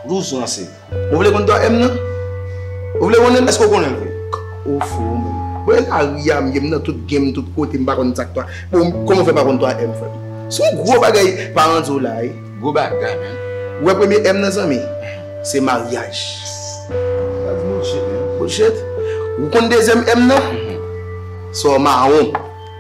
Blouson an se. Ou vle konn 3 M nan? Ou vle konnen l? Èske ou konnen l vre? K, Ou fou ou menm? Bon e la ri a m ye m nan tout game tout kote m pa konn sa k 3 Bon kòman ou fè pa konn 3 M frè m? Se yon gwo bagay paran di w la e. Gwo bagay menn. Ou wè premye M nan zanmi? Se maryaj. Sa di bullshit menn. Bullshit? Ou konn dezyèm M nan? Sò mawon.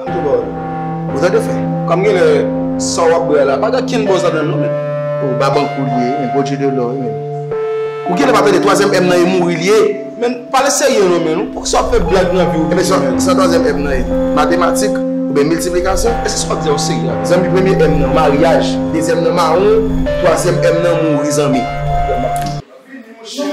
An tou bawol. Ou tande fè. Kom genlè sa wap bwè a la pa gen kenn bòz ladanl non menn. Oh babankou li ye men bondye de lò wi menn. Ou genlè pa tande twazyèm M nan e mouri li ye. Menn pale serye non menn ou poukisa wap fè blag nan viw Ebyen sa menn. sa twazyèm M nan ye matematik oubyen miltiplikasyon? Eske sa wap di a ou serye avèl. Zanmi premye M nan maryaj dezyèm nan mawon twazyèm M nan mouri zanmi. Map tann ou. Vini monchè.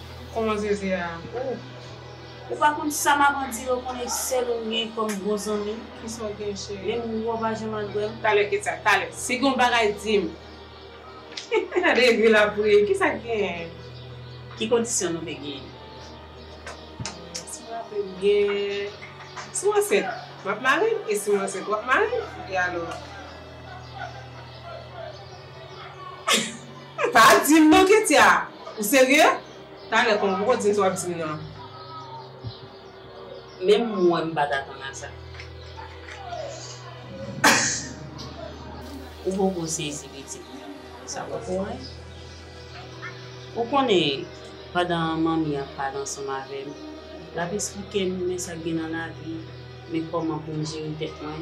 Koman zeze a ooh. Ou pa konn sa maman di yo konnen sel ou m gen kom bon zanmi. Kisa w gen cheri. Menm ou pa janm al bwè m. Talè ketcha talè si gon bagay di m. Gade vil ap ri kisa k genyen. Ki kondisyon nou te genyen. Si m raple m byen si m ansent map mare m e si m ansent wap mare m e alò. Pa dim non ketya ou serye talè kon gro dins wap dim nan. Menm mwen m pat atann a sa. Ou poko sezi pitit mwen sa wap fè a. Ou konnen pandan manmi ap pale ansanm avèm lap esplikem men sak gen nan lavi men koman poum jere tèt mwen.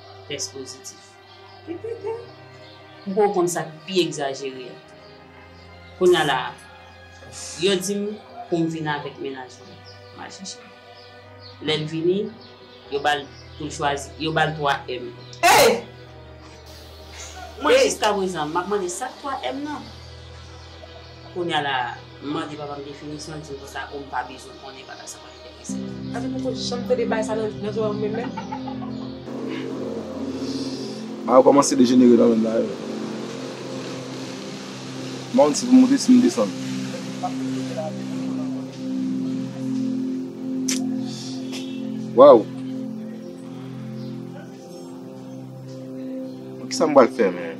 tès pozitif. Kikikiki m poko konn sak pi egzajere a kounya la a yo dim poum vin avèk mennaj mwen mal chèche lèl vini yo bal poul chwazi yo bal 3 èm eey mwen jiska prezan map mande sak 3 èm nan kounya la a m mande papam definisyon l dim konsa ou m pa bezwen konnen bagay sa. Ayo komanse dejenere kanmenm la yo. M pa konn si pou m monte si m desann. Waww. Kisa m pral fè menm.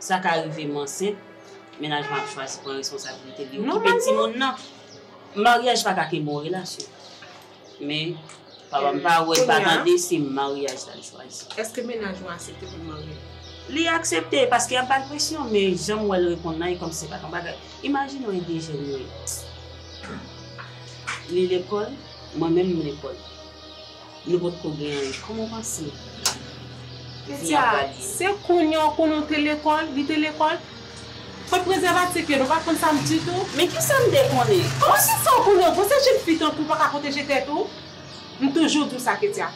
Sa ka rive m ansent, mennaj mwen ap chwazi pran responsabilite li okipe timoun nan. Maryaj pa ka ke bon relasyon. Men, papa m pa wè, l pa tande se maryaj la l chwazi. Eske mennaj ou asepte pou l marye? Li aksepte, paske y ap ba l presyon, men jan m wè l reponn la e kòm se pa t yon bagay. Imajine w ede jèn yo. Li lekòl, mwen menm m lekòl. Nou pot ko gen anyen. Koman w panse? Petya, Se kounya w konnen w te lekòl, li te lekòl? Kot prezèvatif yo? Nou pa konn sa m ditou? Men kisa m te konnen? Koman se sa w konnen? Bon se jenn fi tankou w pa ka pwoteje tèt ou? M toujou di w sa Petya.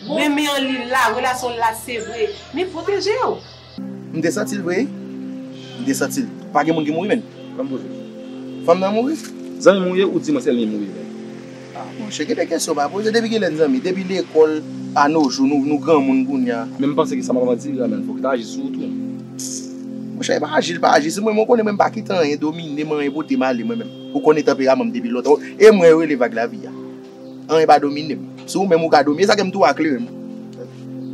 Renmen an li la, relasyon w la se vre. Men pwoteje w! M te santi l vre wi. M te santi l. Pa gen moun ki mouri menn. Lè m poze. Fanm nan mouri? Zanmi m ou ye ou di mwen se li mouri vre. Ah monchè gen de kesyon pa poze depi kilè n zanmi? Depi lekòl a no jou nou nou granmoun kounya. Men m panse ke sa m ap anvi di la menm fòk li ta aji sou ou tou. Monchè e pa aji li pa aji sou mwen men ou konnen mwen m pa kite anyen domine m anyen pote m ale mwen menm. Ou konnen tanperaman m depi lontan. E mwen yo rele vag lavi a. Anyen pa domine m. Se ou menm ou ka domine. E sa ke m tou a klere m.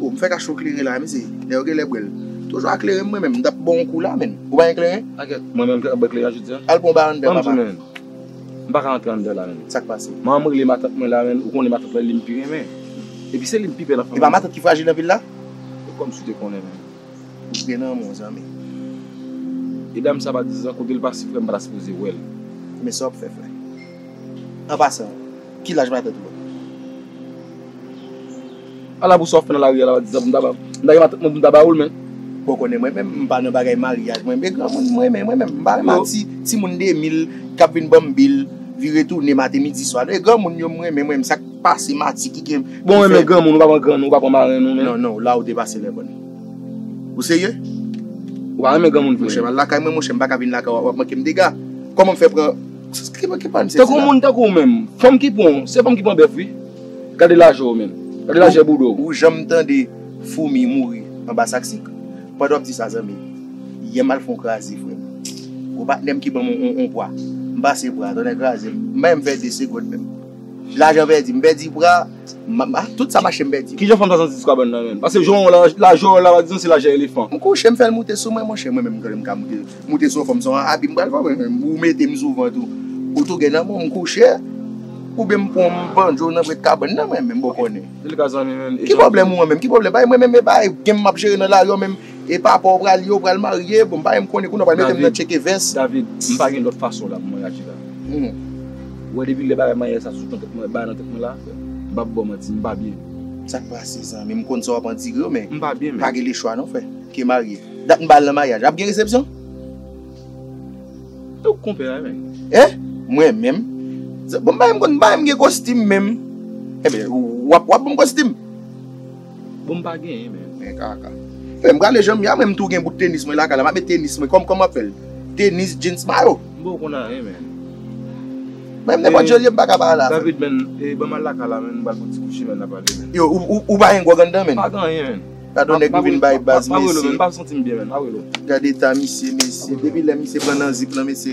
Oh, m fè kache ou klere la, mesi. Lè yo gen lè bwè l. Toujou a klere m mwen menm. M tap ban ou kou la menn. Ou pa gen kleren? Anket, mwen menm ki ap bwè kleren jodi a? Al pran yon ba anndan papa. Ban m di menn. M pa ka antre anndan la menn. Sa k pase? Manman m rele matant mwen la menn. Ou konnen matant lan li m pi renmen. Epi se li m pi pè nan fanmi. E pa matant ki frajil nan vil la? E kòmsi ou te konnen menm? Ou gen nan menw zanmi. E dam sa pa dizan kotel pase frèm pata sipoze wèl. Men sa wap fè frè. An pasan ki laj matant ou an? Ala pou sa wap fè nan lari a la pa dizan pou mta gen matant mwen pou mta ba oul men. Bon konnen mwen menm mpa nan bagay maryaj mwen e granmoun mwen renmen mwen menm mpa renmen ak ti moun 2000 kap vin banm bil vire tounen maten midi swa non e granmoun yo mrenmen mwen menm sak Pa se mati ki gen. Bon renmen granmoun ou pa pran grann ou pa pran marenn ou menm. Non non la ou depase lè bòn. Ou serye? Ou pa renmen granmoun vre. Monchè al lakay mwen monchè m paka vin lakay ou wap manke m dega. Kòman m fè pran Ki pa m sezi la? Tankou moun tankou ou menm. Fanm ki pran ou se fanm ki pran bèf wi. Gade lajè ou menm. Gade lajè bouda ou. Ou janm tande foumi mouri anba sak sik? Pandan wap di sa zanmi yè m al fon kraze frè m. Gwo patnè m ki banm on pwa. M pase pwa a tonnè kraze m. M pa janm fè 2 segond menm. Lajan pèdi, m pèdi pra, tout sa mache m pèdi. Kijan fanm sa santi sou kabann nan menm? Pase jan w wè l la, jan w wè l la pa di non se lajan elefan. M kouche m fè l moute sou mwen monchè, mwen menm m konnen m ka moute, moute sou yon fanm se yon abi m pral fè mwen menm, ou mete m sou vant ou, ou tou gen nan men w m kouche, oubyen m pran yon banjo nan prèt kabann nan mwen menm, bon konnen. Ki pwoblèm ou an menm, ki pwoblèm, bay mwen menm e bay, gen m m ap jere nan lari an menm. E papa ou pral ye ou pral marye bon m pa menm konnen kounye ou pral metem nan tcheke vès. David, m pa gen lòt fason la pou mwen aji la. Humm. Ou wè depi lè bagay manyè sa sot nan tèt mwen, bay nan tèt mwen la, m pap baw manti, m pa byen. Sak pase zanmi m konn sa wap andire yo men. M pa byen menm. Pa gen le chwa non frè. Ke marye. Dat m ba al nan maryaj la. Ap gen resepsyon? E ou k konpè a menm? Hein? Mwen menm? Bon m pa menm konn m pa menm gen kostim menm. Enben wap wap banm kostim? Bon m pa genyen men. Men kaka. Fè m gade jan m ye a mwen m tou gen bout tenis mwen lakay la m ap met tenis mwen kòman m ap fè l tenis jeans mayo. M pa w konn anyen men. Menm nenpòt jan l ye m pa ka pa ale avè l. David men e ban m al lakay la men m pral pran ti kouchi men n ap pale men. Yo ou pa gen gwòg anndan men. M pa gen anyen men. Gadon nèg m vin bay baz mesye. Pa wè l men m pa santi m byen men pa wè l. Gade eta misye mesye depi lè misye pran nan zip lan mesye.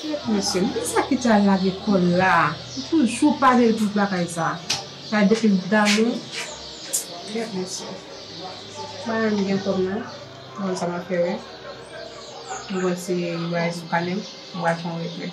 Kèt mesye, men kisa ki te al lage kòl la, li toujou pale tout bagay sa, sa depi l t damou, kèt mesye, bagay m gen kòm nan, m konn sa m ap fè, m konn si bagay sou kanè m, m pral fè yon retrè.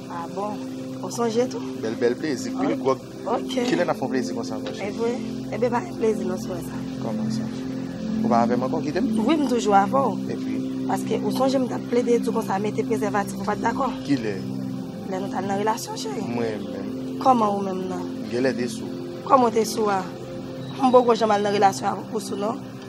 Ah bon, ou sonje tou? Bèl bèl plezi, pil gwòg. Ok. Kilè n ap fè yon plezi konsa mwen cheri? Evre? Enben pa gen plezi nan swè sa. Kòman sa? Ou pa avè m ankò, ou kite m? Wi, m toujou avè w. Epi? Paske ou sonje m t ap plede di w konsa mete prezèvatif ou pa t dakò? Kilè? Lè nou t al nan relasyon cheri. Mwen menm? Kòman ou menm nan? M genlè te sou. Kòman w te sou a? M poko janm al nan relasyon avè w pou sou non.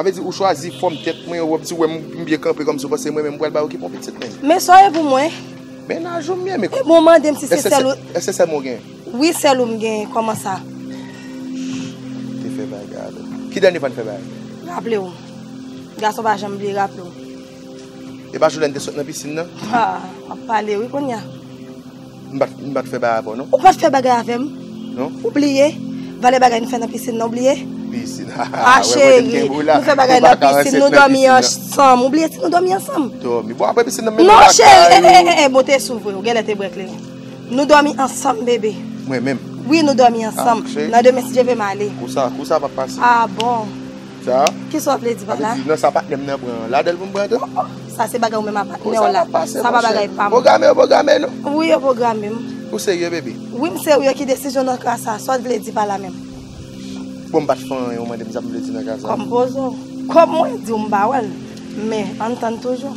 Sa vle di ou chwazi fòm tèt mwen, wap di wèm m byen kanpe kòmsi ou panse mwen menm m pral bay ou ki bon pitit mwen. Men sa w ye pou mwen? Mennaj ou m ye men. Ebyen w mande m si se sèl ou. Èske se sèl mwen ou genyen? Wi sèl ou m genyen, kòman sa? Shhh, te fè bagay avè m. Ki dènye fwa n fè bagay? Raple w. Gason pa janm bliye, raple w. E pa jou lè n te sot nan pisin nan? Haa, wap pale wi kounya. M pa t fè bagay avè w non. Ou pa t fè bagay avè m non. Ou bliye valè bagay nou fè nan pisin nan ou bliye? Pisin ha ha. Ah cheri nou fè bagay nan pisin nou dòmi ansanm ou bliye si nou dòmi ansanm? Dòmi bon apre pisin nan m mennen w lakay ou. Non cheri eh eh eh bon te sou vre ou genlè te bwè kleren. Nou dòmi ansanm bebe. Mwen menm? Wi nou dòmi ansanm. Nan demen si Dye vle m ale. Kou sa kou sa pa p pase. Ah bon. Sa? Kisa wap vle di pa la? Sa vle di nan sa patnèm nan pran an ladanl poum pran tou? Oh sa se bagay ou menm a patnèw la. Kosa pase monchè. Sa pa bagay pam. Pwograme yo pwograme nou? Wi yo pwogramem. Ou serye bebe? Wi m serye ki desizyon nan ka sa? Sa w t vle di pa la menm? Bon m pat fè anyen ou mandem sa m vle di nan ka sa? Kòm poze w. Kòm mwen diw m pa wèl. Men ann tann toujou.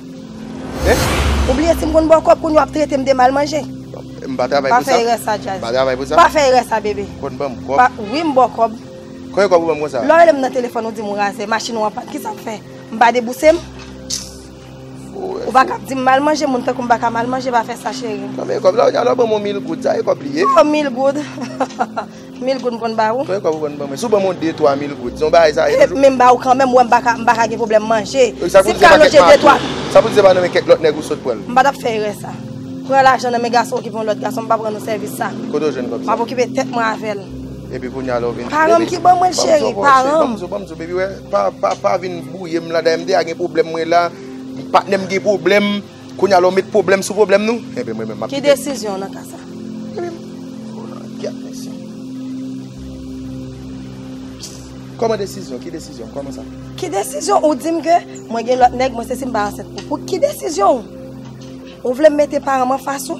Ou bliye si m konn ba w kòb kounya w ap trete m de mal manje? M pa travay pou sa. Pa fè erè sa Jazz. M pa travay pou sa. Pa fè erè sa bebe. Konn ban m kòb. Wi m ba w kòb. Konbyen kòb ou ban m konsa? Lè w rele m nan telefòn ou di m ou razè, machin ou an pàn, kisa w ap fè? M pa debouse m? Ou pa ka ap di m mal manje, moun tankou m pa ka mal manje, pa fè sa cheri m. Konbyen kòb? Lè w di a lè w ban m yon mil goud, sa e kòb li ye? Yon mil goud? Mil goud m konn ba ou. Konbyen kòb ou konn ban mwen? Si w ban mwen yon de twa mil goud, se yon bagay sa ye toujou? Men m ba ou kanmenm, wè m pa ka, m pa ka gen pwoblèm manje. Ok, sa pou di se pa kèk mato? Sa pou di se pa nan men kèk lòt nèg ou sot pran l? M pa t ap fè erè sa. Pran lajan nan men gason okipe yon lòt gason, m pa pran nan sèvis sa. Kote ou jwenn kòb sa? M ap okipe tèt mwen avè l. Epi kounye a lè ou vin di, baby. Paran m ki ban mwen l cheri, paran m. Ban m zo, ban m zo, baby wè, pa, pa, pa vin bwouye m la. Dayè m deja gen pwoblèm mwen la. Patnè m gen pwoblèm. Kounya la w met pwoblèm sou pwoblèm nou? Enben mwen menm m ap kite. Ki desizyon w nan ka sa? Kòman desizyon? Ki desizyon? Kòman sa? Ki desizyon ou di m ke mwen gen lòt nèg, mwen se si m pa ansent pou pou ki desizyon ou? Ou vle m mete paran m anfas ou?